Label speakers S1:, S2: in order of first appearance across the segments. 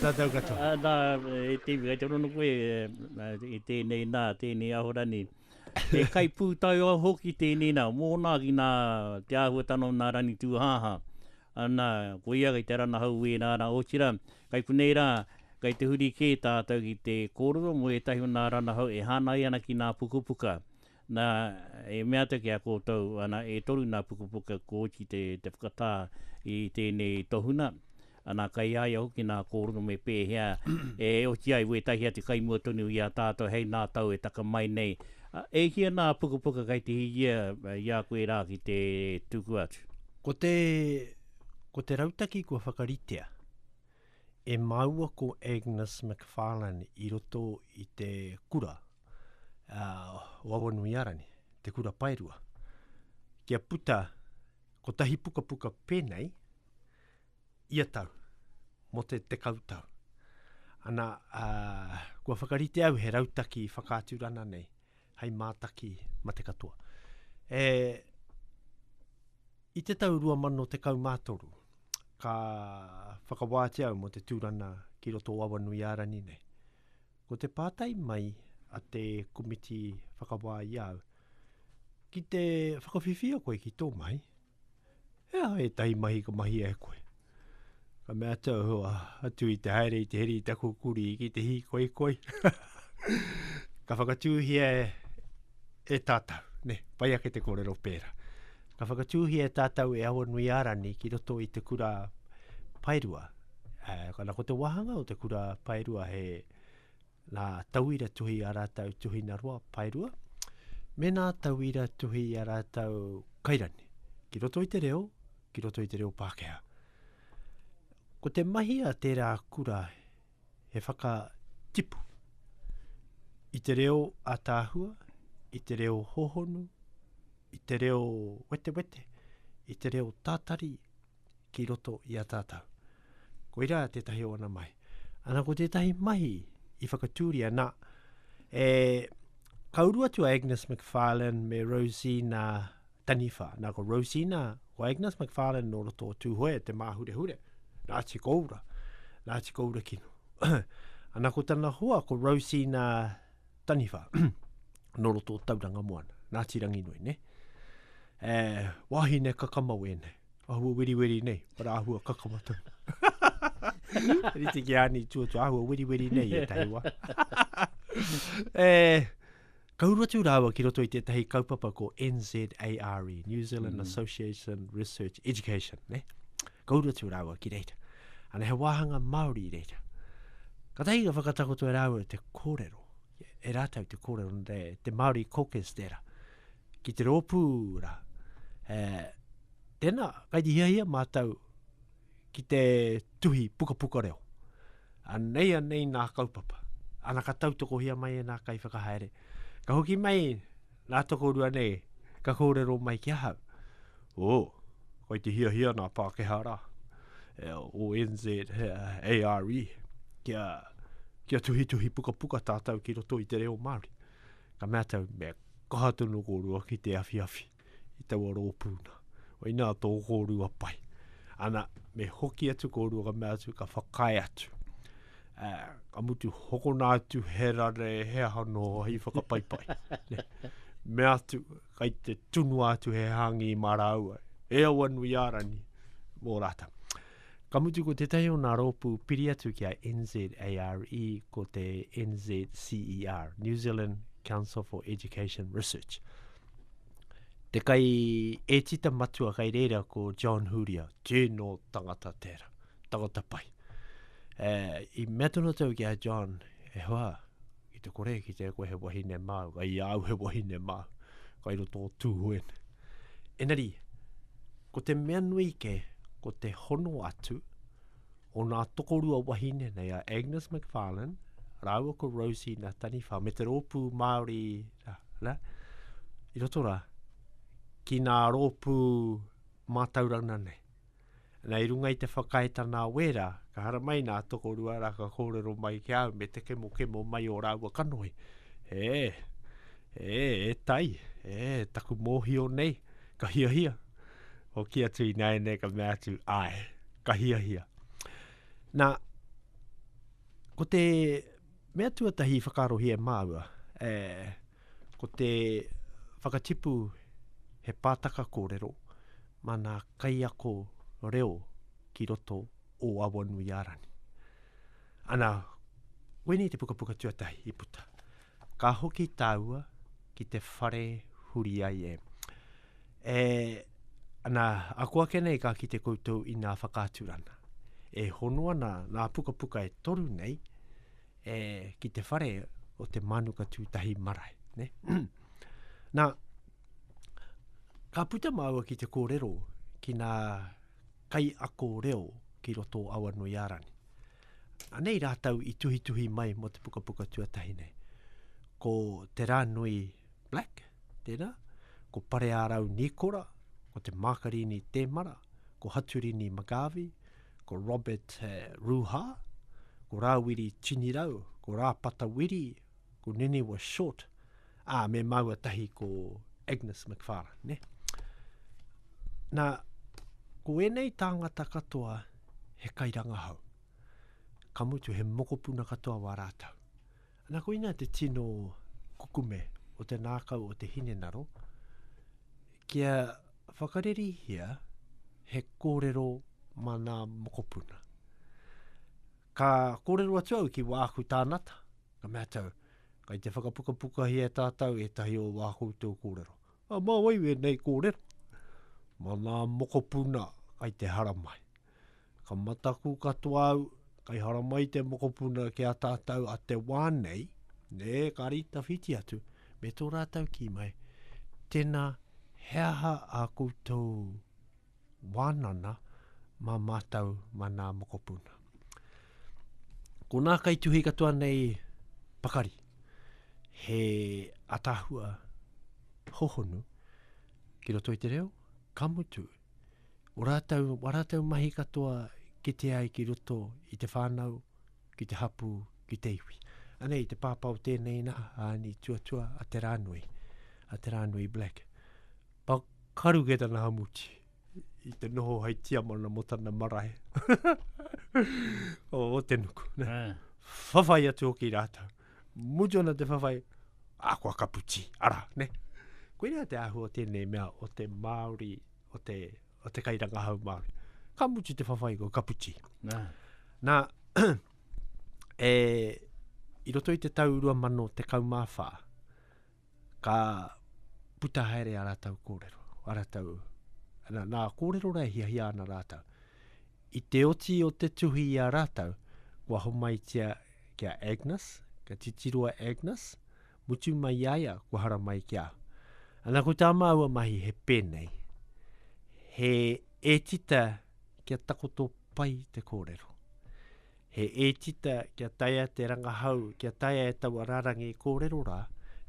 S1: Tātou katoa. Ā, nā, e te iwi, kei te rono koe i tēnei nā, tēnei Ahorani. He kaipūtaiao hoki tēnei nā, mōna ki nā te āhuatanga o nā Ranitūhāhā. Anā, ko ia kei te ranahau wēnā rā, otirā, kei konei rā, kei te huri kē tātou ki te kōrero mō ētahi o nā ranahau e hānai ana ki nā pukapuka. Na, e mea atu ki a koutou, ana, e toru na pukapuka ko Oti te, te whakatā i tēnei tohuna, ana, kei a ia hoki nā kōrero me pēhea e oti ai wētahi atu kai mua tonu i a tātou hei nā tau e taka mai nei, a, e hia nā pukapuka kei te hiria i a koe rā ki te tuku atu. Ko te, ko te rautaki kua whakaritea e māua ko Agnes McFarlane i roto i te kura, a Wawanuiarani, Te Kura Paerua, kia puta kotahi pukapuka pēnei ia tau, mō te tekau tau. Ana, a, kua whakarite au he rautaki whakaaturana nei, hei mātaki ma te katoa. E, i te tau 2013, ka whakawātia au mō te tūrana ki roto o Awanuiārani nei. Ko te pātai mai a te komiti whakawā i a au, ki te whakawhiwhia koe ki tō mahi, he aha ētahi mahi ka mahia e koe? Ka mea atu au, atu i te haere i te heri i taku kurī ki te hīkoikoi. ka whakatūhia e, e tātou, ne, pai ake te kōrero pērā. Ka whakatūhia tātou e Awa Nui Arani ki roto i te kura paerua. E, kana ko te wahanga o te kura paerua he nā tauira tuhi a rātou tuhina roa paerua, me nā tauira tuhi a rātou kairani, ki roto i te reo, ki roto i te reo Pākehā. Ko te mahi a tērā kura he whakatipu i te reo ataahua, i te reo hohonu, i te reo wetewete, i te reo tātari ki roto i a tātou. Koirā tētahi o ana mahi. Ana ko tētahi mahi i whakatūria, nā, e, ka uru atu a Agnes McFarlane me Rosina Taniwha, nā ko Rosina, ko Agnes McFarlane nō roto o Tūhoe e te māhurehure, nā Te Koura, nā Te Koura kino. Ana ko tana hoa ko Rosina Taniwha, nō roto o Tauranga Moana, nā Te Ranginui, ne? E, wahine kakamau e nei, ahua weriweri nei, para ahua kakama tau. Rite ki ani tuatua, ahua weriweri nei e tahi wa. e, Ka uru atu rāua ki roto i tētahi kaupapa ko NZARE, New Zealand mm. Association Research Education, ne? Ka uru atu rāua ki reira. Ana he wāhanga Māori i reira. Ka tahi ka whakatakoto e rāua te kōrero, e rātau te kōrero, te, te Māori caucus tēra, ki te rōpū rā. E, tēnā, kai di hiahia mātau ki te tuhi pukapuka reo. Anei anei nā kaupapa. Ana ka tautokohia mai e nā kaiwhakahaere. Ka hoki mai nā tokorua nei, ka kōrero mai ki ahau. O, oh, koi te hia hia nā Pākehā rā. E, o NZ, e, ARE, kia, kia tuhi tuhi puka puka tātou ki roto i te reo Māori. Ka mea tau, me kaha tonu kōrua ki te awhi awhi. i taua rōpū nā. Wainā tō kōrua pai. Ana, me hoki atu kōrua ka mea atu, ka whakae atu. Uh, ka mutu hokona atu he rare, he aha no, hei whakapaipai. ne. Me atu, kai te tunu atu he hangi mā rāua. E au anu i ārani, mō rātau. Ka mutu ko tētahi o nā rōpū piri atu ki a NZARE, ko te NZCER, New Zealand Council for Education Research. te kai etita matua kai reira ko John Huria, tēnō tangata tēra, tangata pai. E, I mea tonu tau ki a John, e hoa, ki te kore, ki te koe he wahine māu, kai au he wahine māu, kai ro tō tūhuen. Enari, ko te mea nui ke, ko te hono atu, o nā tokorua wahine nei a Agnes McFarlane, rāua ko Rosie na Taniwha, me te rōpū Māori, rā, rā, i roto rā, ki nā rōpū mātaurana nei. Nā, i runga i te whakaetana a wērā, ka hara mai nā tokorua rā ka kōrero mai ki au me te kemo kemo mai o rāua kanohi. E, e, e tai, e, taku mōhio nei, ka hiahia. Hoki atu i nāianei ka mea atu, ai. Ka hiahia. Nā, ko te mea tuatahi whakarohi e māua, e, ko te whakatipu he pātaka kōrero mā nā kaiako reo ki roto o Awanui Arani. Ana, koinei te pukapuka tuatahi i puta. Ka hoki tāua ki te whare huri ai e. E, ana, ako ake nei ka kite koutou i nā whakaaturana. E hono ana nā pukapuka e toru nei, e, ki te whare o te Mānuka Tūtahi Marae. Ne? nā, ka puta māua ki te kōrero ki nā kai ako reo ki roto o Awa Nui Ārani. Anei rātau i tuhituhi mai mō te pukapuka tuatahi nei. Ko Te Rānui Black, tēnā, ko Pareārau Nīkora, ko Te Mākarini Tēmara, ko Haturini McGarvey, ko Robert eh, Rūhā, ko Rāwiri Tinirau, ko Rāpata Wiri, ko Niniwa Short, ā, me māua tahi ko Agnes McFarlane, ne? Nā, ko ēnei tāngata katoa he kairangahau. Ka mutu he mokopuna katoa wā rātou. Nā koina te tino kukume o te nākau o te hinengaro, kia whakaririhia he kōrero mā nā mokopuna. Ka kōrero atu au ki wāku tānata, ka mea tau, kai te whakapukapuka hia tātau e tahi o wā koutou kōrero. A ma wai wenei korero? Ma nga mokopuna kai te haramai. Ka mataku katoa au, kai haramai te mokopuna ki a tatou a te wa nei, e kari tawhiti atu, me to ratou ki mai, Tena, he aha a koutou wānana mā mātou, mā nā mokopuna. Ko nā kaituhi katoa nei pakari, he atahua hohonu ki roto i te reo, ka mutu, o rātou, o rātou mahi katoa ki te ai ki roto i te whānau, ki te hapū, ki te iwi. Anei, te pāpā o tēnei nā, a ni tuatua, a te rānui, a te rānui Black. Pakaru kei tana hamuti, i te noho hai tiamana mo tana marae. o Otenuku, ne. Ah. Whawhai atu hoki rātou. Mutu ana te whawhai, a kua kapu ti, ara, ne. Koina te ahu o tēnei mea o te Māori, o te, o te kairangahau Māori. Ka mutu te whawhai kua kapu ti. Na. Na, e, i roto i te tau rua mano te kaumāwhā, ka puta haere a rātou kōrero, a rātou, nā, nā kōrero rā e hiahia ana rātou. I te oti o te tuhi i a rātou, kua homaitia ki a Agnes, ka titiro a Agnes, mutu mai i a ia, kua hara mai ki a. Ana ko tā māua mahi he pēnei, he ētita kia takoto pai te kōrero. He ētita kia taea te rangahau, kia taea e taua rarangi kōrero rā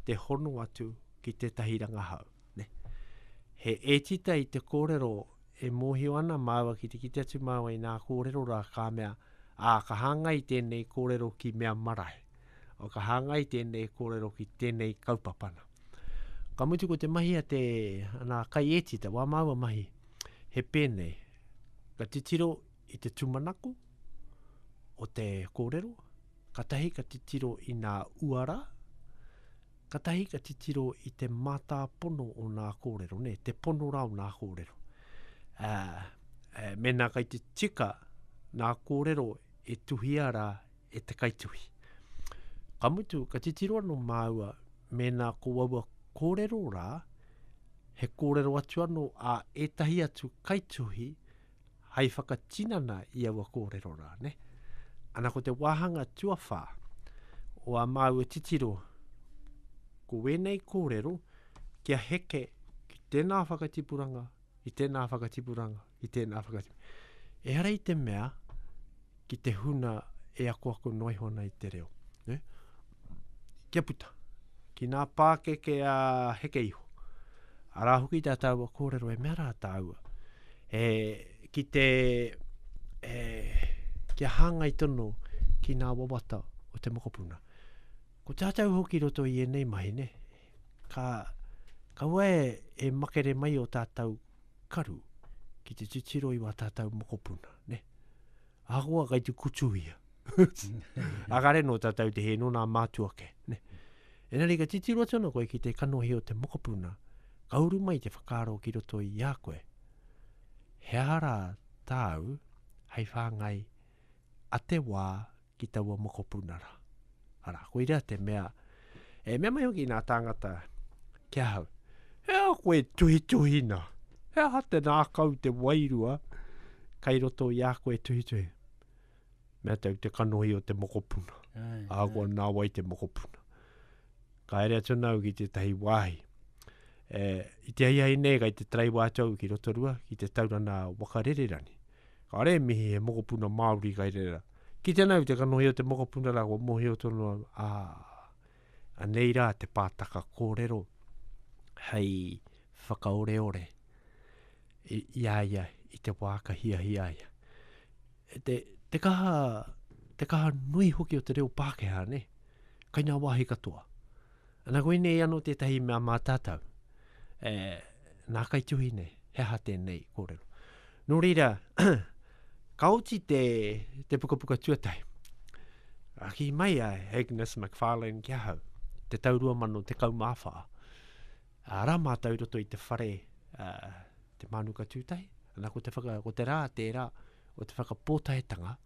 S1: te hono atu ki tētahi rangahau. Ne? He ētita i te kōrero e mōhio ana māua ki te kite atu māua i nā kōrero rā ka mea, ā, ka hāngai tēnei kōrero ki mea marae, ā, ka hāngai tēnei kōrero ki tēnei kaupapana. Ka mutu ko te mahi a te, nā, kai ētita, wā māua mahi, he pēnei, ka titiro I te tūmanako o te kōrero, katahi ka titiro i nā uara, katahi ka titiro i te mātāpono o nā kōrero, ne, te pono rā o nā kōrero. Ā, ā, mēnā kai te tika nā kōrero e tuhia rā e te kaituhi. Ka mutu, ka titiro anō māua mēnā ko aua kōrero rā, he kōrero atu anō a ētahi atu kaituhi hai whakatinana i aua kōrero rā, ne? Ana ko te wāhanga tuawhā o a māua titiro, ko wēnei kōrero kia heke ki tēnā whakatipuranga, ki tēnā whakatipuranga, ki tēnā whakatipuranga. Ehara i te mea, ki te huna e akoako noa iho ana i te reo. Ne? Kia puta, ki nā pākeke a heke iho, arā hoki tā tāua kōrero e mea rā tāua, e, ki te, e, kia hāngai tono ki nā wawata o te mokopuna. Ko tātou hoki roto i enei mahi, ne? Ka, ka ue e makere mai o tātou karu ki te titiro i wā tātou mokopuna, ne? Ahakoa kai te kutu ia. a kare no tātou te he no nā mātua ke, ne? Enari ka titiro atu ana koe ki te kanohi o te mokopuna, ka uru mai te whakaaro ki roto i a koe. He ahara tāu hei whāngai a te wā ki taua mokopuna rā. Arā, koirā te mea, e mea mai hoki nā tāngata ki ahau, he aha koe tuhituhina? He aha te nākau te wairua kai roto i a koe tuhituhi? Mea tau te kanohi o te mokopuna. Ai, a koa nā wai te mokopuna. Ka ere atu nāu ki tētahi wāhi. E, i te aihai nei kai te tarai wātou ki Rotorua, ki te taurana wakarererani. Ka re mihi he mokopuna Māori kai rera. Ki tēnā iwi te kanohi o te mokopuna rā, kua mohio tonu au, ā, anei rā te pātaka kōrero hei whakaoreore i, i a ia i te wā ka hiahia ia. E te, te kaha, te kaha nui hoki o te reo Pākehā, ne? Kai ngā wāhi katoa. Ana koinei ano tetahi mea ma tatau e na kaituhi nei he aha tenei korero. No reira ka oti te te pukapuka tuatahi. A ki mai a Agnes McFarlane ki ahau te tau 2014. A ra ma tau roto i te whare a, te manuka tutahi. Ana ko te whaka ko te ra te ra o te whakapotaetanga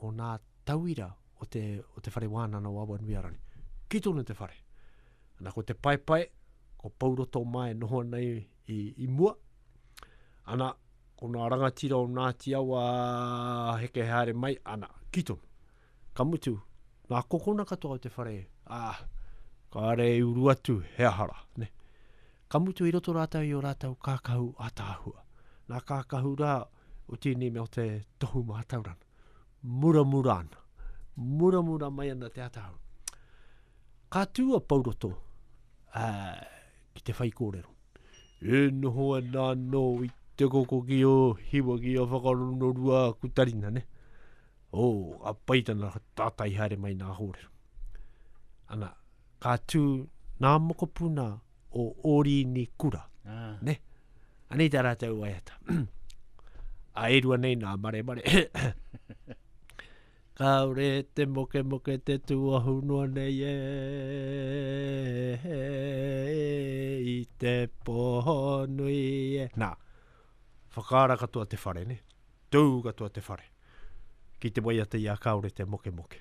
S1: o nā tauira o te, o te whare wānana o Awanuiarangi. Ki tonu te whare. Ana ko te paepae, ko Pauroto mā e noho ana i, i, i mua. Ana, ko nā rangatira o Ngāti Awa heke haere mai, ana, ki tonu. Ka mutu, nā kokona katoa o te whare, ā, ah, ka are i uru atu, he ahara, ne. Ka mutu i roto rātou i o rātou kākahu ātaahua. Nā kākahu rā, o tēnei mea o te tohu mātaurana. Muramura ana. Muramura mai ana te atahau. Ka tū a Pauroto uh, ki te whai kōrero. E noho ana anō i te koko ki o hiwa ki a whakarono rua a kutarina, ne? O, oh, a paitana tātai haere mai nā hōrero. Ana, Ka tū ngā mokopuna o Ōrīni kura. Ah. Ne? Anei tā rātou waiata. a e rua nei nā maremare. Kāore te moke moke te tuahu noa nei e i te poho nui e. Nā, whakaara katoa te whare ne, tū katoa te whare. Ki te waiata i a kāore te moke moke.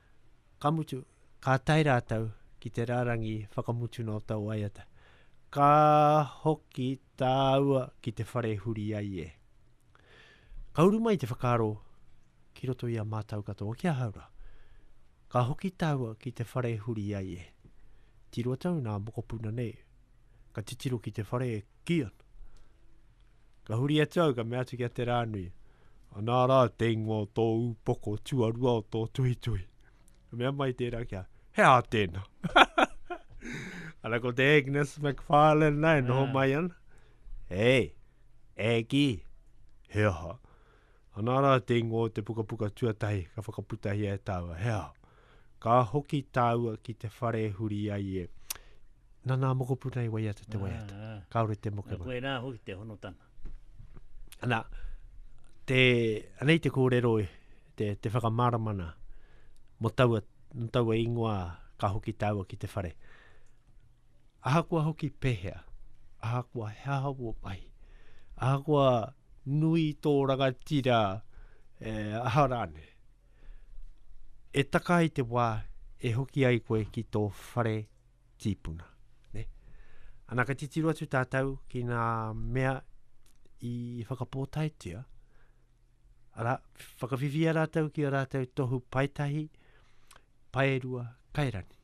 S1: Ka mutu, ka tae rātou ki te rārangi whakamutuna o tau waiata. Ka hoki tāua ki te whare e huri ai e. Ka uru mai te whakaaro ki roto i a mātou katoa ki ahau rā. Ka hoki tāua ki te whare e huri ai e. Tiro tau nā mokopuna nei, ka titiro ki te whare e Kia. Ka huri atu au, ka mea atu ki a Te Rānui, anā rā te ingoa o tō ūpoko tuarua o tō tuhituhi. Ka mea mai tērā kia, he aha tēnā? Ana ko te Agnes McFarlane nā e noho ah. mai ana. Hei, Aggie, he aha? Anā rā te ingoa o te pukapuka tuatahi ka whakaputahia e tāua, he aha? Ka hoki tāua ki te whare e huri ai e. Nā nā mokopuna i waiata te waiata. Ah, ah. Kāore te mokopuna. Koe rā hoki te honotanga. Anā, te, anei te kōrero, te, te whakamaramana mo taua, mo taua ingoa ka hoki tāua ki te whare. Ahakoa hoki pehea, ahakoa he aha wō mahi, ahakoa nui tō rangatira e aha rāne, e taka ai te wā e hoki ai koe ki tō whare tīpuna. Ne? Ana ka titiru atu tātou ki nā mea i whakapōtaetia, ara, whakawhiwhia rātou ki a rātou tohu paetahi, paerua, kairani.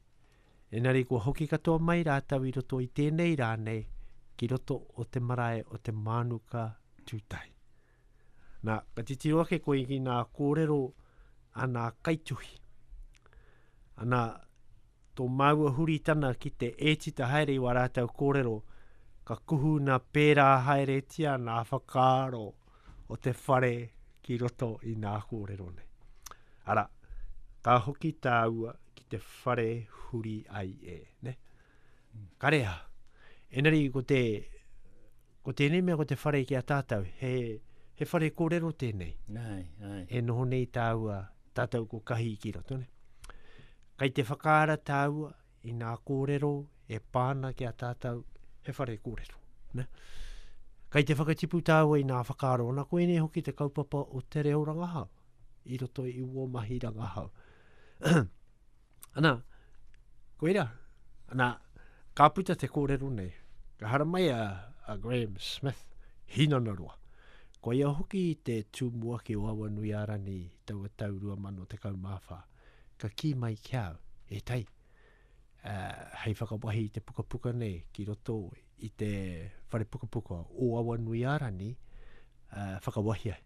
S1: Engari kua hoki katoa mai rātou i roto i tēnei rā nei ki roto o te marae o te Mānuka Tūtahi. Nā, ka titiro ake koe ki nā kōrero a nā kaituhi. Ana, tō māua huritana ki te ētita haere i wā rātou kōrero, ka kuhuna pērā haeretia nā whakaaro o te whare ki roto i nā kōrero nei. Ara, ka hoki tāua ki te whare huri ai e, ne? Karea, enari ko te, ko tēnei mea ko te whare ki a tātou, he, he whare kōrero tēnei. Ai, ai. E noho nei tāua, tātou ko kahi ki roto, ne? Kai te whakaara tāua i ngā kōrero e pā ana ki a tātou he whare kōrero. Ne? Kai te whakatipu tāua i ngā whakaaro, ana koinei hoki te kaupapa o te reo rangahau, i roto i uo mahi rangahau. ana, koira, ana, ka puta te kōrero nei, ka haramai a, a Graham Smith, hinana roa. Koia hoki te tūmua ki o awa nui arani taua tau 2014. ka kī mai ki au, e Tai, ā, hei whakawahi i te pukapuka nei ki roto i te whare pukapuka o Awanuiārani, ā, whakawahi ai.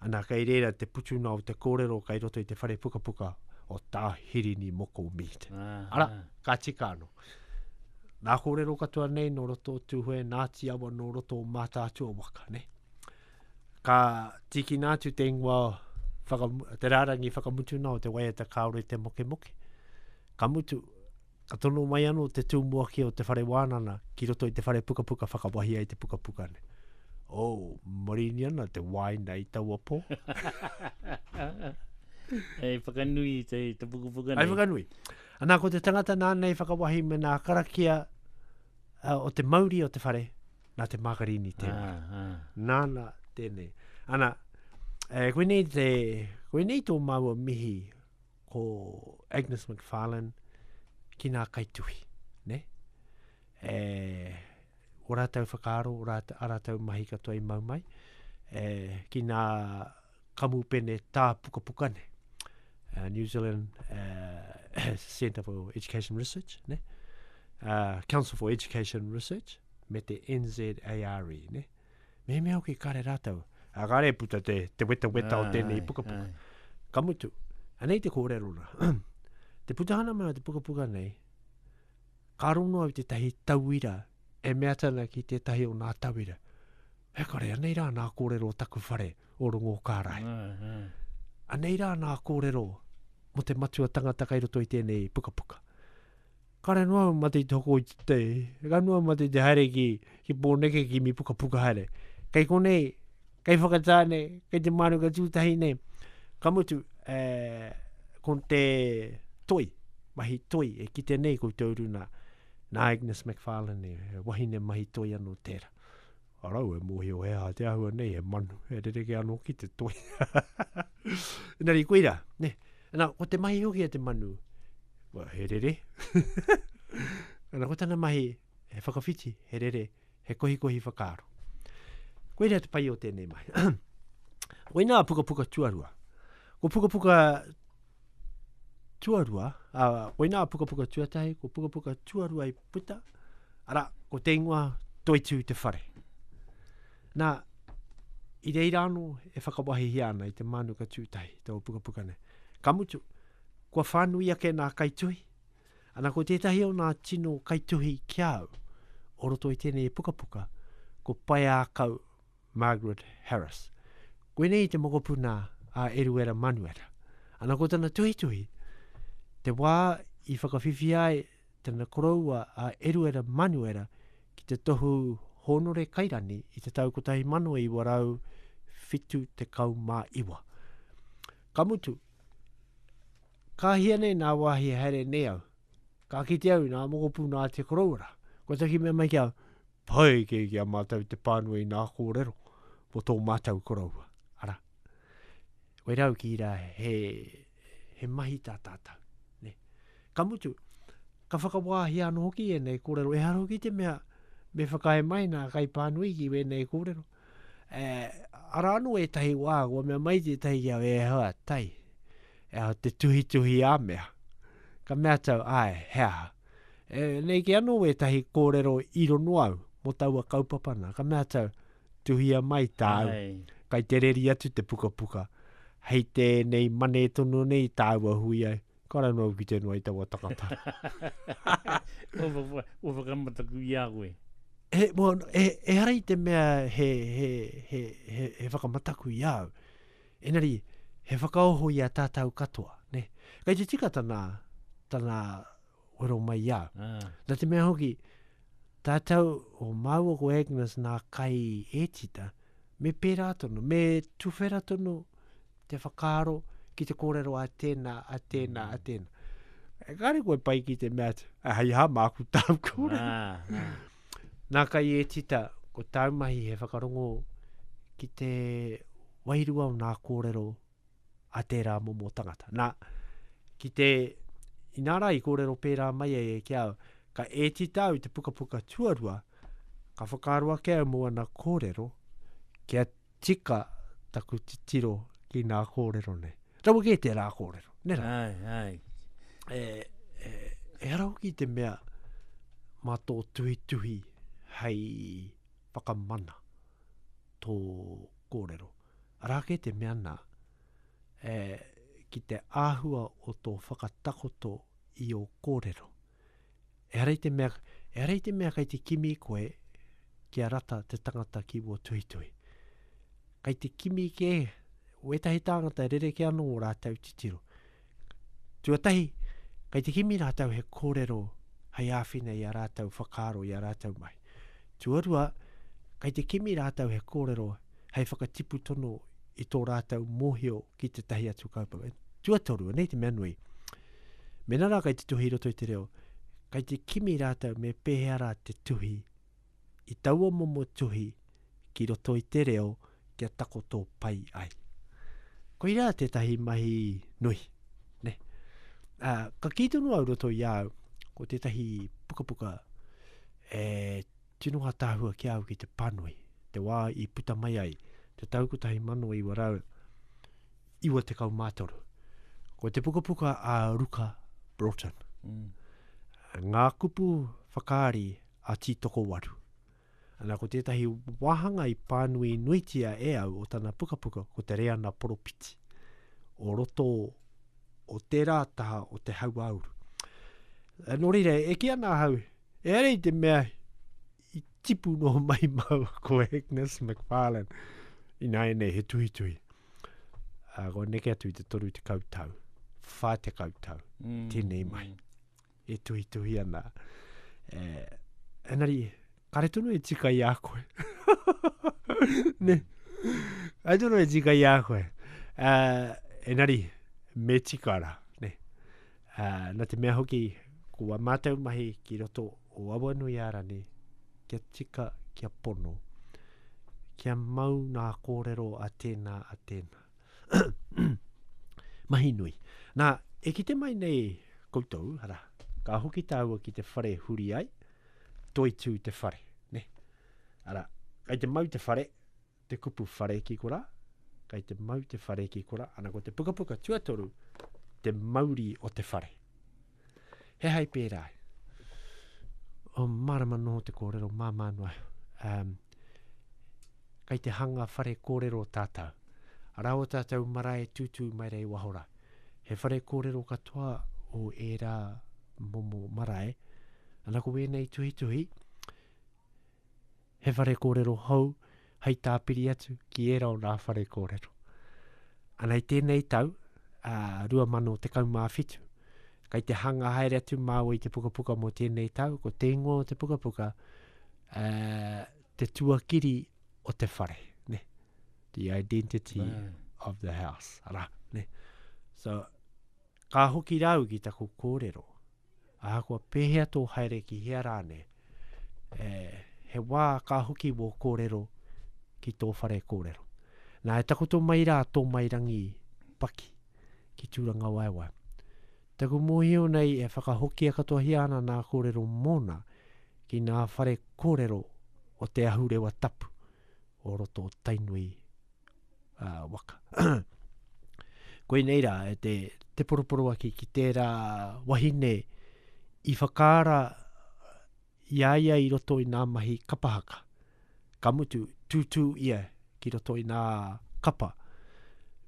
S1: Ana, kei reira te putuna o te kōrero kei roto i te whare pukapuka o Tā Hirini Moko Mead. Ara, ka tika anō. Nā kōrero katoa nei nō roto o Tūhoe, nā Tiawa nō roto o Mātaatua waka, nē. Ka tīkina atu te ingoa whaka, te rārangi whakamutuna o te waiata kāore te mokemoke. Ka mutu, ka tono mai anō te tūmuaki o te whare wānana ki roto i te whare pukapuka whakawahia i te pukapuka ne. Oh, marini ana te wāina i taua pō. Hei whakanui te, te pukapuka nei. Hei whakanui. Anā, ko te tangata nāna i whakawahi me nā karakia uh, o te mauri o te whare, nā te Mākarini tēnā. Ah, ah. Nāna tēnei. Ana, e, eh, koinei, te, koinei tō māua mihi ko Agnes McFarlane ki nā kaituhi. Ne? E, o rātou whakaaro, o rātou, a rātou mahi katoa i mau mai. E, ki nā kamupene tāpukapuka nei. Uh, New Zealand uh, Centre for Education Research, ne? Uh, Council for Education Research, me te NZARE, ne? Me mea hoki kare rātou, a kare puta te, te weta weta o tēnei pukapuka. Ka mutu, anei te kōrero rā. te putahana mai o te pukapuka nei, ka rono au tētahi tauira e mea tana ki tētahi o nā tauira. Ehkare, anei rā nā kōrero o taku whare o Rongōkārae. Anei rā nā kōrero mō te matua tangata kei roto i tēnei pukapuka. Kare noa au mate i te hoko i te tei, kare noa au mate i te haere ki, ki Pōneke ki mi pukapuka haere. Kei konei, kei whakatā nei, kei te mānuka tūtahi nei, ka mutu, e, ko te toi, mahi toi e kite nei koutou runa, nā Agnes McFarlane, e, wahine mahi toi anō tērā. Arau e mōhio he aha te ahua nei, he manu, he rereke anō ki te toi. Engari, koe rā, ne? Ana, ko te mahi hoki e te manu, well, he rere. Ana, ko tana mahi, he whakawhiti, he rere, he kohikohi whakaaro. Koe rā te pai o tēnei mahi. Koe nā pukapuka tuarua. Ko pukapuka tuarua, a, koe nā pukapuka tuatahi, ko pukapuka tuarua i puta, ara, ko te ingoa Toitū te whare. Nā, i reira anō e whakawahihia ana i te mānuka tūtahi, te pukapuka nei. Ka mutu, kua whānui ake nā kaituhi, ana ko tētahi o nā tino kaituhi ki au, o roto i tēnei pukapuka, ko Paiākau Margaret Harris. Koinei te mokopuna a Eruera Manuera. Ana ko tana tuhituhi, te wā i whakawhiwhia ai tana koroua a Eruera Manuera ki te tohu hōnore kairani i te tau 1979. Ka mutu, ka hia nei nā wāhi haere nei au, ka kite au nā mokopū nā te koroua rā. Kua taki mea mai ki au, pai kē ki a mātou te pānui i nā kōrero mō tō mātou koroua. Arā, koirā au ki rā he he mahi tā tātou. Ne? Ka mutu, ka whakawāhia anō hoki ēnei kōrero, ehara hoki te mea me whakaae mai nā kaipānui ki wēnei kōrero. E, ara anō ētahi wā, kua mea mai tētahi ki au, e hoa, tai, e hoa, te tuhituhi a mea. Ka mea tau, ai, he aha. E, nei ki anō ētahi kōrero i rono au, mō taua kaupapa nā, ka mea tau, Tuhia mai tāu. Ai. Kai te reri atu te pukapuka. Hei tēnei mane tono nei tāu a hui ai. Ka rau noa ki te noa i taua takata. Ua whakamataku i a koe. He, mo, e, e hara i te mea he, he, he, he, he whakamataku i au. Enari, he whakaoho i a tātou katoa. Ne? Kai te tika tana, tana wero mai i au. Ah. Na te mea hoki, tātou o māua ko Agnes nā kai e tita, me pērā tonu, me tuwhera tonu te whakaaro ki te kōrero a tēnā, a tēnā, mm. a tēnā. E kāre koe pai ki te mea atu, a hei hā māku tāu kōrero. Ah, ah. Nā kai e tita, ko tāu mahi he whakarongo ki te wairua o nā kōrero a tērā momo tangata. Nā, ki te, inā rā i kōrero pērā mai e ki au, ka ēti tāu te pukapuka tuarua, ka whakaaro ake au mō ana kōrero, kia tika taku titiro ki nā kōrero nei. Rawa kē tērā kōrero, nē rā? Ai, ai. E, e, e ara hoki te mea mā tō tuhituhi hei whakamana tō kōrero. Arā kē te mea nā, e, ki te āhua o tō whakatakoto i ō kōrero. Ehara i te mea, ehara i te mea kei te kimi koe kia rata te tangata ki wō tuhituhi. Kei te kimi kē, wētahi tāngata e rereke anō ō rātou titiro. Tuatahi, kei te kimi rātou he kōrero hei āwhina i a rātou whakaaro i a rātou mahi. Tuarua, kei te kimi rātou he kōrero hei whakatipu tono i tō rātou mōhio ki tētahi atu kaupapa. Tuatoru, anei te mea nui. Mēnā rā kei te tuhi roto i te reo, kei te kimi rātou me pēhea rā te tuhi i taua momo tuhi ki roto i te reo kia takoto pai ai. Koirā tētahi mahi nui. Ne? Ā, ka kī tonu au roto i au, ko tētahi pukapuka e tino atāhua ki au ki te panui, te wā i puta mai ai, te tau 1993. Ko te pukapuka a Ruka Broughton. Mm. Ngā kupu whakaari a Tītokowaru. Ana, ko tētahi wāhanga i pānui nuitia e au o tana pukapuka, ko te reana poropiti, o roto o tērā taha o te hauāuru. E, nō reira, e ki ana ahau, e arei te mea i tipu no mai mau ko Agnes McFarlane, i nāi nei he tuhi tuhi. Uh, ko neke atu i te toru te kautau, whā te kautau, mm. tēnei mai. e tuhituhi ana. E, enari, kare tonu e tika i a koe. ne, kare tonu e tika i a koe. Uh, enari, me tika ra. Ne. Uh, na te mea hoki, ko a mātou mahi ki roto o awa nui ara ne, kia tika, kia pono, kia mau nā kōrero a tēnā, a tēnā. Mahi nui. Nā, e kite mai nei koutou, ara, ka hoki tāua ki te whare huri ai, toitū te whare, ne? Ara, kai te mau te whare, te kupu whare ki korā, kai te mau te whare ki korā, ana ko te pukapuka tuatoru, te mauri o te whare. He hai pērā. O marama noho te kōrero, māmā noa. Um, kai te hanga whare kōrero tātou. Arā o tātou marae tūtū mai rei wahora. He whare kōrero katoa o ērā momo marae. Ana ko wēnei tuhituhi, He whare kōrero hou hei tāpiri atu ki ērā o nā whare kōrero. Ana i tēnei tau, a, 2017, kai te hanga haere atu māua i te pukapuka mō tēnei tau, ko te ingoa o te pukapuka, a, te tuakiri o te whare, ne? The identity Nā. of the house, ara, ne? So, ka hoki rāu ki taku kōrero, ahakoa pēhea tō haere ki hea rānei, e, he wā ka hoki wō kōrero ki tō whare kōrero. Nā, e takoto mai rā tō mai rangi paki ki Tūrangawaewae. Taku mōhio nei e whakahokia katoahia ana nā kōrero mōna ki nā whare kōrero o te ahurewa tapu o roto o Tainui uh, waka. Koinei rā, e te, te poroporoaki ki tērā wahine i whakaara i a ia i roto i nā mahi kapahaka. Ka mutu, tūtū ia ki roto i nā kapa.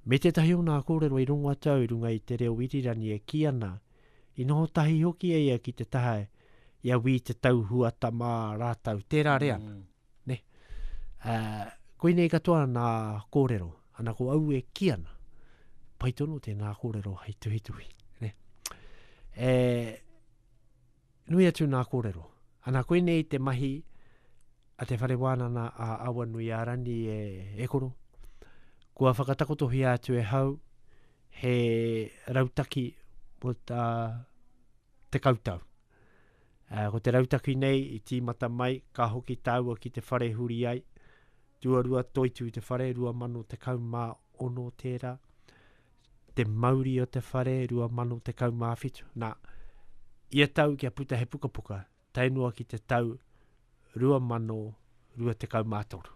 S1: Me tētahi o nā kōrero i runga tau runga i te reo irirani e ki ana, i noho tahi hoki e ia ki te taha ia wī te tau huata mā rātau. Tērā rea. Mm. Ne? Ā, koinei katoa nā kōrero. Ana ko au e kī ana, pai tonu tēnā kōrero hei tuhituhi. Ne? E, nui atu nā kōrero. Ana koinei te mahi a te whare wānana a Awanui a Rani e, e koro. Kua whakatakotohia atu e hau he rautaki mo tā te kautau. Ko te rautaki nei i tīmata mai, ka hoki tāua ki te whare huri ai, tuarua toitū te whare, 2016 tērā, te mauri o te whare, 2017. Nā, ia tau kia puta he pukapuka, tae noa ki te tau 2023.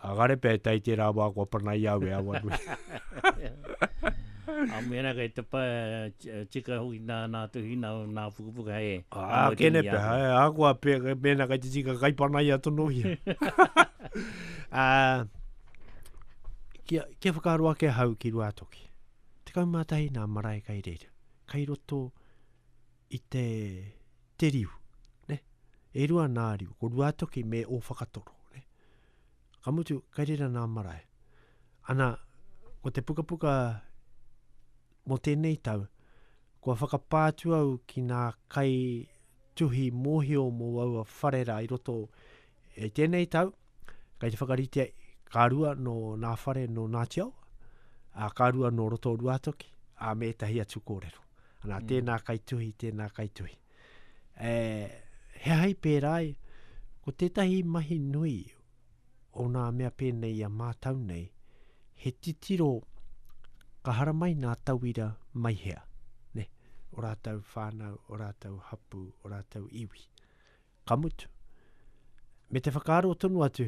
S1: A kare pea e tai tērā wā kua panai au e Awanui. A mena kei te pa, tika hoki nā, nā tuhina, nā pukapuka he. A kene pea, hai, a kua pe, mena kei te tika kai panai a tonohia. a, kia, kia whakaaro ake hau ki Ruatoki. 11 nā marae kai reira. Kai roto, i te, te riu. Ne? E rua nā riu, ko Ruatoki me o Whakatoro. Ne? Ka mutu, kai rira nā marae. Ana, ko te pukapuka mo tēnei tau, kua whakapātu au ki nā kai tuhi mōhio mō aua wharera i roto e tēnei tau, Kei te whakaritea ka rua no nā whare no Ngāti Awa, a ka rua no roto Ruātoki, a me ētahi atu kōrero. Anā, mm. tēnā kai tuhi, tēnā kai tuhi. E, he hai pērā ai, ko tētahi mahi nui o nā mea pēnei a mātau nei, he titiro ka haramai nā tauira mai hea, ne, o rātau whānau, o rātau hapu, o rātau iwi. Ka mutu. Me te whakaaro tonu atu,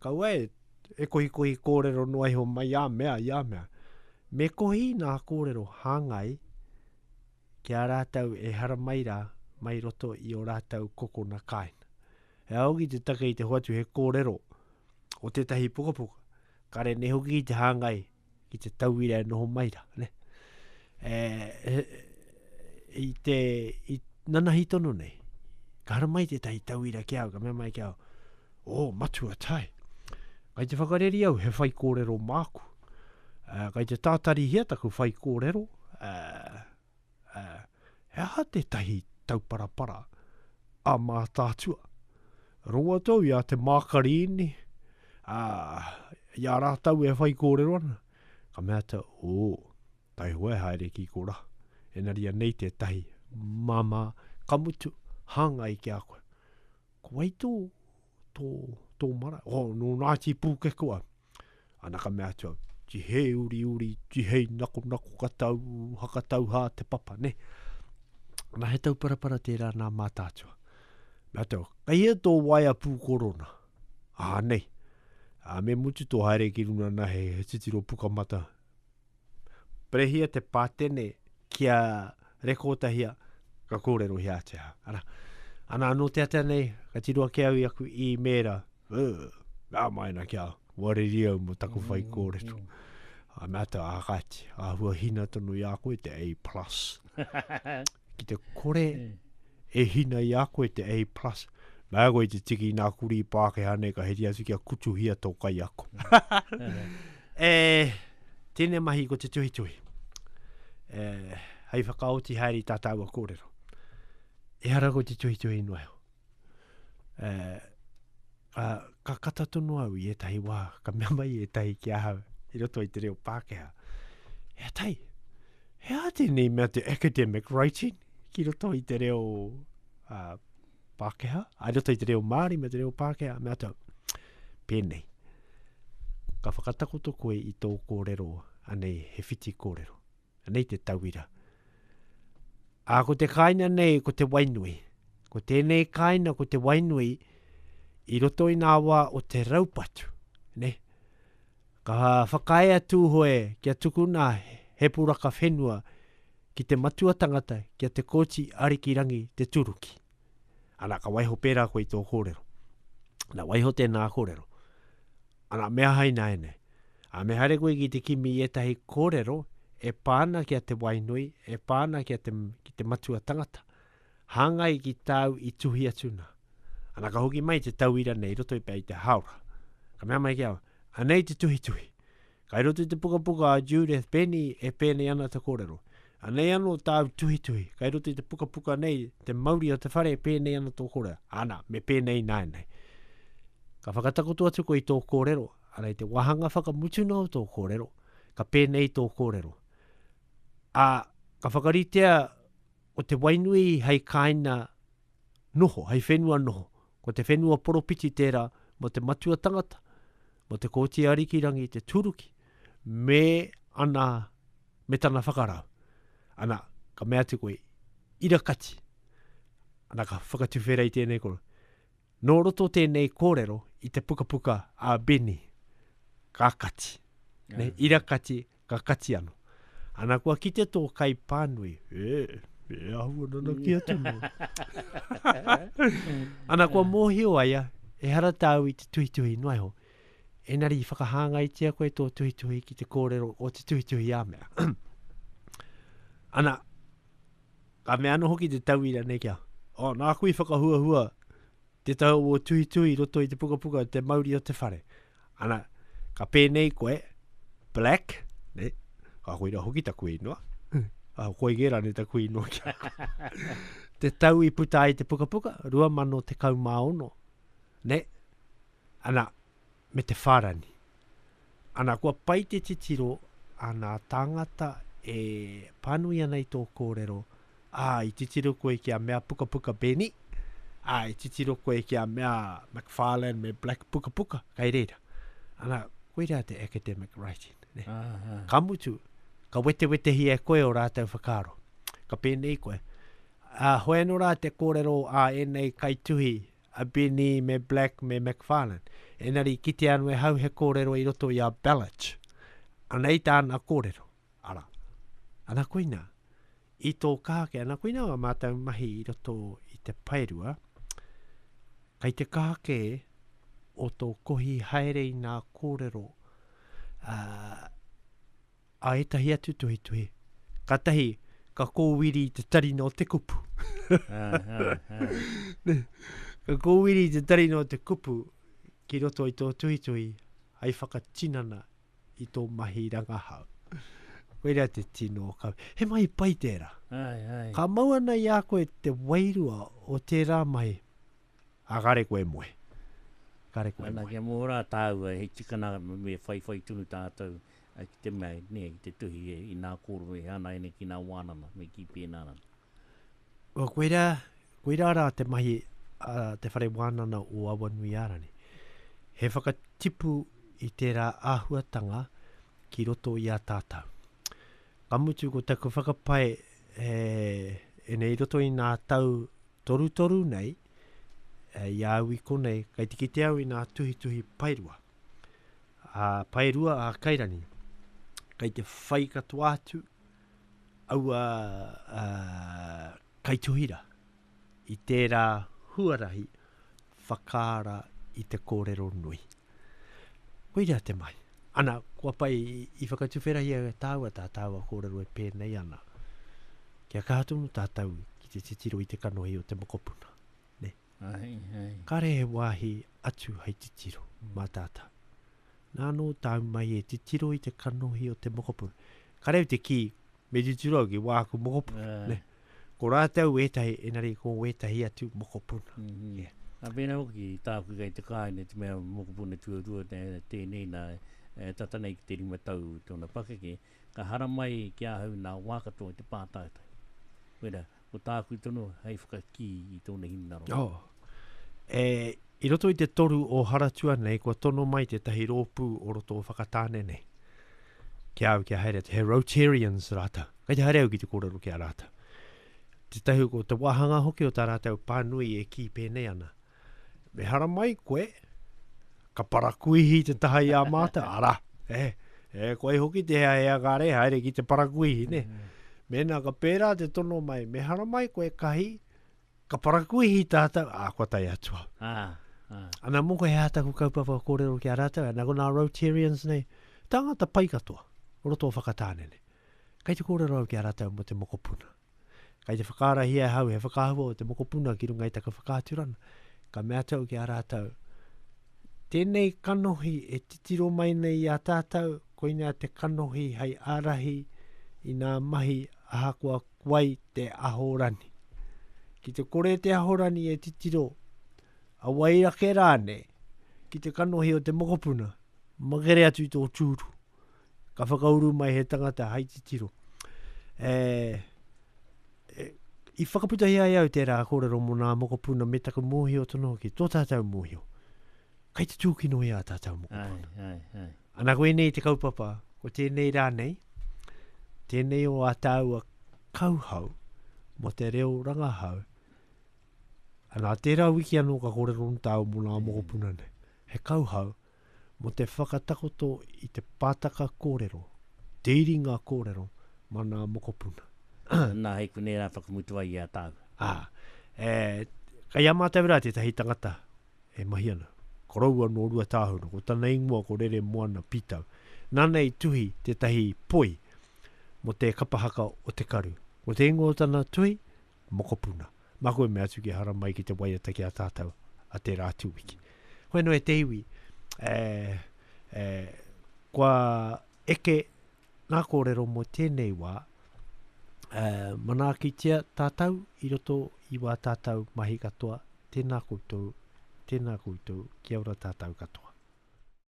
S1: kaua e, e kohikohi kōrero noa iho mai i a mea, i a mea. Me kohi nā kōrero hāngai ki a rātou e haramai rā mai roto i o rātou kokona kāina. He aogi te take i te hoatu he kōrero o tētahi pukapuka, kare nei hoki i te hāngai, ki te tauira e noho mai ra, ne? E, e, i te, i nanahi tono nei, ka hara mai tētahi tauira ki au, ka mea mai ki au, o, oh, matua tai. Kai te whakareri au, he whai kōrero māku. Uh, kai te tātarihia taku whai kōrero, uh, Ā, he aha tētahi tauparapara a Mātaatua? Rongo atu au i a Te Mākariini, ā, i a rātou e whaikōrero ana, ka mea atu au, ō, taihoa e haere ki korā, engari anei tētahi māmā ka mutu, hāngai ki a koe. Ko wai tō, tō, tō marae? Ō, nō Ngāti Pūkekua. Ana ka mea atu au, tihei uri uri, tihei nako nako ka tau, haka tau hā te papa, ne? Ana he tau parapara tērā nā mātātua. Mea tau, kei hea tō waea pū korona? Ā, nei. Ā, me mutu tō haere ki runga nā he, he titiro pukamata, Perehia te pātene kia rekotahia ka kōrero hea te ha. Ana, ana anō te atea nei, ka tiro ake au i aku i mēra, ngā maina kia wareri au mo taku whai mm, kōrero. Mm. A me ata a kati, a hua hina tonu i a koe te A+. ki te kore e hina i a koe te A+, plus, nā koe te tiki i nā kurī Pākehā nei ka heri atu kia kutuhia tō kaiako. e, tēnei mahi ko te tuhituhi. E, hei whakaoti haere i tā tāua kōrero. E hara ko te tuhituhi noa heo. uh, uh, ka kata tonu au i ētahi wā, ka mea mai ētahi ki ahau, i roto i te reo Pākehā. He atai, he a tēnei mea te academic writing ki roto i te reo uh, Pākehā, a roto i te reo Māori me te reo Pākehā, mea tau, pēnei. Ka whakatakoto koe i tō kōrero, anei he whiti kōrero. Anei te tauira. A ko te kāina nei ko te wainui. Ko tēnei kāina ko te wainui i roto i nā wā o te raupatu. Ne? Ka whakae a Tūhoe kia tukuna he puraka whenua ki te matua tangata kia te kōti Arikirangi te turuki. Ana, ka waiho pērā koe i tō kōrero. Na, waiho tēnā kōrero. Ana, me aha ināianei? Ā, me haere koe ki te kimi i ētahi kōrero e pā ana ki a te wainui, e pā ana ki a te, ki te matua tangata, hāngai ki tāu i tuhi atu nā. Ana, ka hoki mai te tauira nei roto i pea i te haora. Ka mea mai ki au, anei te tuhituhi. Kai roto i te pukapuka a Judith Benny e pēnei ana te kōrero. Anei anō tāu tuhituhi, kai roto i te pukapuka nei, te mauri o te whare, pēnei ana tō kōrero. Ana, me pēnei nāenei. Ka whakatakoto atu koe i tō kōrero, ana i te wāhanga whakamutu nō tō kōrero, ka pēnei tō kōrero. A, ka whakaritea o te wainui hei kāina noho, hei whenua noho. Ko te whenua poropiti tērā mō te matua tangata, mō te Kōti Arikirangi, te Tūruki, me ana, me tana whakarau. Ana, ka mea atu koe, ira kati. Ana ka whakatuwhera i tēnei koro. Nō roto tēnei kōrero i te pukapuka a Benny, ka kati. Yeah. Ira kati, Ka kati ano. Ana kua kite tō kai pānui. E, e ahua nana ki atu no. Ana kua mōhio aia, e hara tāu i te tuhituhi noa iho. Enari i whakahāngaitia koe tō tuhituhi ki te kōrero o te tuhituhi a mea. Ana, ka mea ano hoki te tauira nei kia, oh, nāku i whakahuahua Te tau o tuhituhi i roto i te pukapuka Te Mauri o te Whare. Ana, ka pēnei koe, Black, ne? Ka koe hoki taku inoa. A koe ge rane taku inoa ki Te tau i puta ai te pukapuka, rua mano te kau mā ono. Ne? Ana, me te whārani. Ana, kua pai te titiro ana tāngata e pānui ana i tō kōrero, ā, i titiro koe ki a mea pukapuka Benny, ā, i titiro koe ki a mea McFarlane me Black pukapuka, kai reira. Ana, koira te academic writing. Ne? Uh -huh. Ka mutu, ka wetewetehi e koe o rātou whakaaro. Ka pēnei koe, a uh, hoenora te kōrero a uh, enei kaituhi a Benny me Black me McFarlane. Enari kitea anu e hau he kōrero i roto i a Belich. Anei tāna kōrero. Ara. Ana koina. I tō kaha ke ana koina o mātou mahi i roto i te paerua. Kai te kaha ke o tō kohi haere i nā kōrero uh, a ētahi atu tuhituhi. Ka tahi, ka kōwiri te tari nō te kupu. ka kōwiri te tari nō te kupu ki roto i tō tuhituhi hai whakatinana i tō mahi rangahau. Koira te tino ka... He mahi pai tērā. Ai, ai. Ka mau ana i a koe te wairua o tērā mahi. A kare koe moe. Kare koe moe. Ana kia mō rā tāua, he tikana me whaiwhai tunu tātou. ki te mea, nē, ki te tuhi e, i nā kōrero e hana ai nei ki nā wānanga, me kī pēnā rā. Well, koirā, koirā rā te mahi a te whare wānanga o Awanuiārani. He whakatipu i tērā āhuatanga ki roto i a tātou. Ka mutu ko taku whakapae e, e nei roto i nā tau torutoru nei, e, i a au i konei, kai te kite au i nā tuhituhi paerua. A Paerua a Kairangi, kei te whai katoa atu aua kaituhira i tērā huarahi whakaara i te kōrero nui. Koira te mahi. Ana, kua pai i whakatuwherahia e tāua tā tāua kōrero e pēnei ana. Kia kaha tonu tātou ki te titiro i te kanohi o te mokopuna. Ne? Kāre he wāhi atu hei titiro mā tātau. Nā anō tāu mai e titiro i te kanohi o te mokopuna. Ka reo te kī, me titiro au ki wāku mokopuna. Ne? Ko rātau ētahi, enari ko wētahi atu mokopuna. Mm -hmm. yeah. A mēnā hoki, tāku kei te kāine, te mea mokopuna tuarua, tēnei nā, e, tata nei ki te rima tau tōna pakeke, Ka haramai ki ahau nā wā katoa i te pātaitai. Koirā, ko tāku tonu hei whakakī i tōna hinengaro. Oh. E, i roto i te toru o Haratua nei, kua tono mai tētahi rōpū o roto o Whakatāne nei. Ki au kia haere atu, he Rotarians rātou. Kei te haere au ki te kōrero ki a rātou. Tētahi ko te wāhanga hoki o tā rātou pānui e kī pēnei ana. Me haramai koe, ka parakuihi te taha i a mātou, ara, e, e, koe hoki te hea hea kāre, haere ki te parakuihi, ne? Mm. Mēnā ka pērā te tono mai, me haramai koe kahi, ka parakuihi tātou, ā, kua tai atua. Ah, ah. Ana mō koe hea taku kaupapa kōrero ki a rātou, ana ko nā Rotarians nei, tāngata pai katoa, o roto o Whakatāne nei. Kei te kōrero au ki a rātou mō te mokopuna. Kai te whakaarahia e hau he whakahua o te mokopuna ki runga i taku whakaaturana, ka mea tau ki a rātau, tēnei kanohi e titiro mai nei i a tātau, koinea te kanohi hai arahi i nā mahi ahakoa kuai te ahorani. Ki te kore te ahorani e titiro, a wai rake rāne, ki te kanohi o te mokopuna, magere atu i tō tūru. ka whakauru mai he tangata hai titiro. E, e, i whakaputahi ai au tērā kōrero mō nā mokopuna me taku mōhio tonu hoki, tō tātou mōhio. Kai te tūkino i a tātou mokopuna. Ai, ai, ai. Ana koe nei te kaupapa, ko tēnei rā nei, tēnei o a tāua kauhau, mo te reo rangahau, ana tērā wiki anō ka kōrero nō tāu mō nā mokopuna nei, he kauhau, mō te whakatakoto i te pātaka kōrero, te iringa kōrero mā nā mokopuna. Nā, hei konei rā whakamutu ai i a tāua. Ā, e, kei a mātou rā tētahi tangata e mahi ana. Koroua nō Ruatāhuna, ko tana ingoa ko Reremoana Pītau. Nāna i tuhi tētahi poi mō te kapa haka o Te Karu. Ko te ingoa o tana tuhi, mokopuna. Maku e mea atu ki hara mai ki te waiata ki a tātou a te rā tūwiki. Koe no e te iwi, e, e, kua eke ngā kōrero mō tēnei wā, e, manaakitia tātou i roto i wā tātou mahi katoa, tēnā koutou, tēnā koutou, kia ora tātou katoa.